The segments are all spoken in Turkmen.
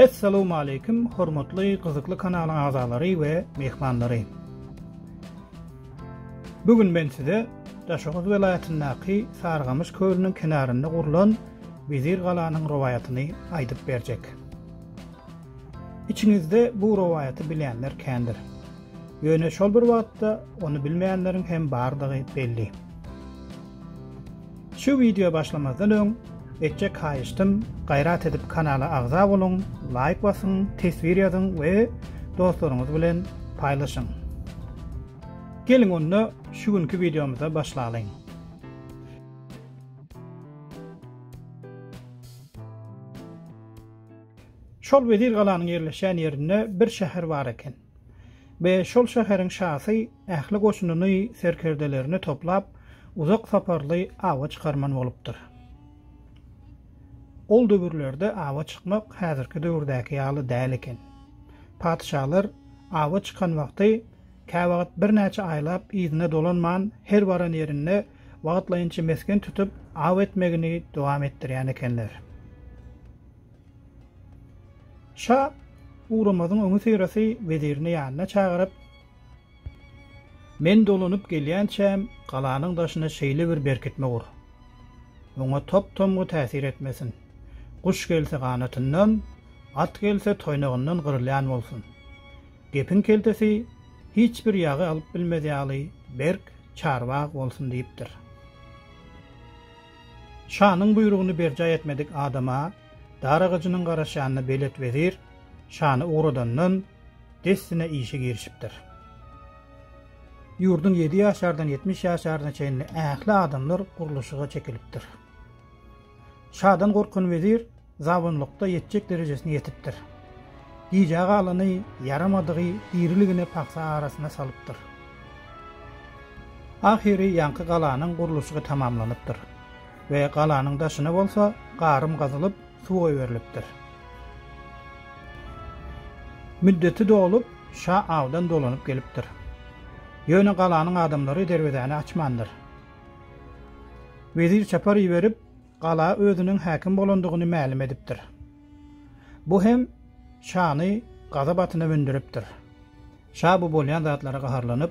Assalamu alaykum, hormatly gyzykly kanalyň agzalary we mehmanlary. Bu gün men size Daşoguz welaýatyndaky Sargamyş kölüniň kenarynda gurlan Wezir galanyň rowaýatyny aýdyp berjek. Içiňizde bu rowaýaty bilýänler kändir. Ýöne şol bir wagtda ony bilmeýänleriň hem bardygy belli. Şu wideo başlamazdan öň etjek haýyştym gaýrat edip kanala agza boluň, laýk basyň, teswir ýazyň we dostlaryňyz bilen paýlaşyň. Geliň onda şu günki wideomyza başlalyň. Şol wezir galanyň ýerleşýän ýerinde bir şäher bar eken. we şol şäheriň şasy ähli goşunyny, serkerdelerini toplap, uzak saparly awa çykarman bolupdyr. Ol döwürlerde awa çykmak häzirki döwürdäki ýaly däl eken. Patyşalar awa çykan wagty käwagt birnäçe aýlap yzyna dolanman, her baran ýerinde wagtlaýynça mesgen tutup, aw etmegini dowam etdirýän ekenler. Şa ugramazyň öňi Syraty wezirini ýanyna çagyryp, Men dolanyp gelýänçäm galanyň daşyna şeýle bir berkitme gur. Oňa top-tomgy täsir etmesin. Guş gelse ganatyndan, at gelse toýnagyndan gyrylýan bolsun. Gepiň keltesi hiç bir ýagy alyp bilmez ýaly berk, çarbag bolsun diýipdir. Şanyň buýrugyny berjaý etmedik adama dar agajynyň garaşýanyny belet wezir şany ugradandan, dessine işe girişipdir. Ýurduň ýedi ýaşardan ýetmiş ýaşaryna çenli ähli adamlar gurluşyga çekilipdir. Şadan gorkan wezir zabunlykda ýetjek derejesine ýetipdir. Gijä galany ýaramadygy diriligine pagsa arasyna salypdyr. Ahyry ýaňky galanyň gurluşygy tamamlanypdyr we galanyň daşyna bolsa garym gazylyp, suw goýberilipdir. Müddeti dolup, şa awdan dolanyp gelipdir. Ýöne galanyň adamlary derwezäni açmandyr. Wezir çapar iberip, gala özüniň häkim bolandygyny mälim edipdir. Bu hem şany gazap atyna mündiripdir. Şa bu bolýan zatlara gaharlanyp,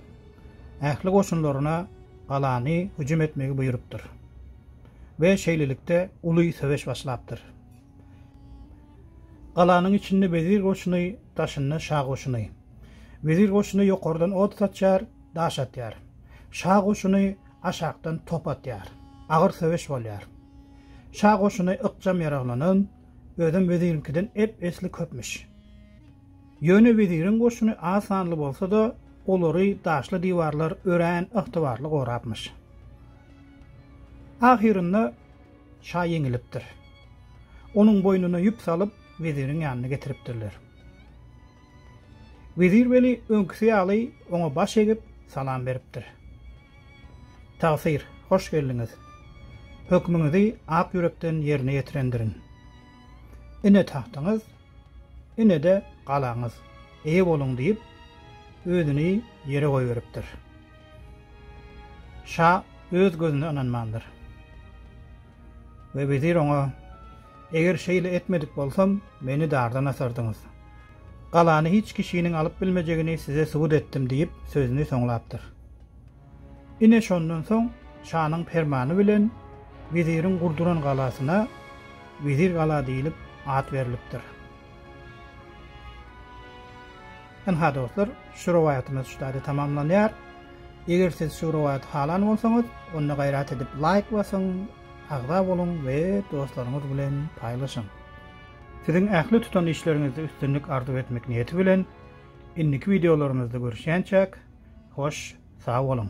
ähli goşunlaryna galany hüjüm etmegi buýrupdyr we şeýlelikde uly söweş başlapdyr. Galanyň içinde wezir goşuny, daşynda şa goşuny. Wezir goşuny ýokardan ot saçýar, daş atýar. Şa goşuny aşakdan top atýar. Agyr söweş bolýar. Şa goşuny ykjam ýaraglanan, özem weziriňkiden ep-esli köpmüş. Ýöne weziriň goşuny az sanly bolsa-da, olary daşly diwarlar örän ygtybarly gorapmyş. Ahyrynda şa ýeňilipdir. Onuň boýnuna ýüp salyp, weziriň ýanyna getiripdirler. Wezir weli öňküsi ýaly oňa baş egip, salam beripdir. Tagsyr, hoş geldiňiz. Hökmüňizi ak ýürekden ýerine ýetirendirin. Ine tagtyňyz, ine-de galaňyz, eýe boluň diýip, özüni ýere goýberipdir. Şa öz gözüne ynanmandyr. We wezir oňa, Eger şeýle etmedik bolsam, meni dardan asardyňyz. Galany hiç kişiniň alyp bilmejegini size subut etdim diýip, sözüni soňlapdyr. Ine şondan soň şanyň permany bilen weziriň gurduran galasyna Wezir gala diýlip at berlipdir. Ynha, dostlar, şu rowaýatymyz şu taýda tamamlanýar. Eger siz şu rowaýaty halan bolsaňyz, onda gaýrat edip laýk basyň, agza boluň we dostlaryňyz bilen paýlaşyň. Siziň ähli tutan işleriňizde üstünlik arzuw etmek niýeti bilen, indiki wideolarymyzda görüşýänçäk, hoş, sag boluň!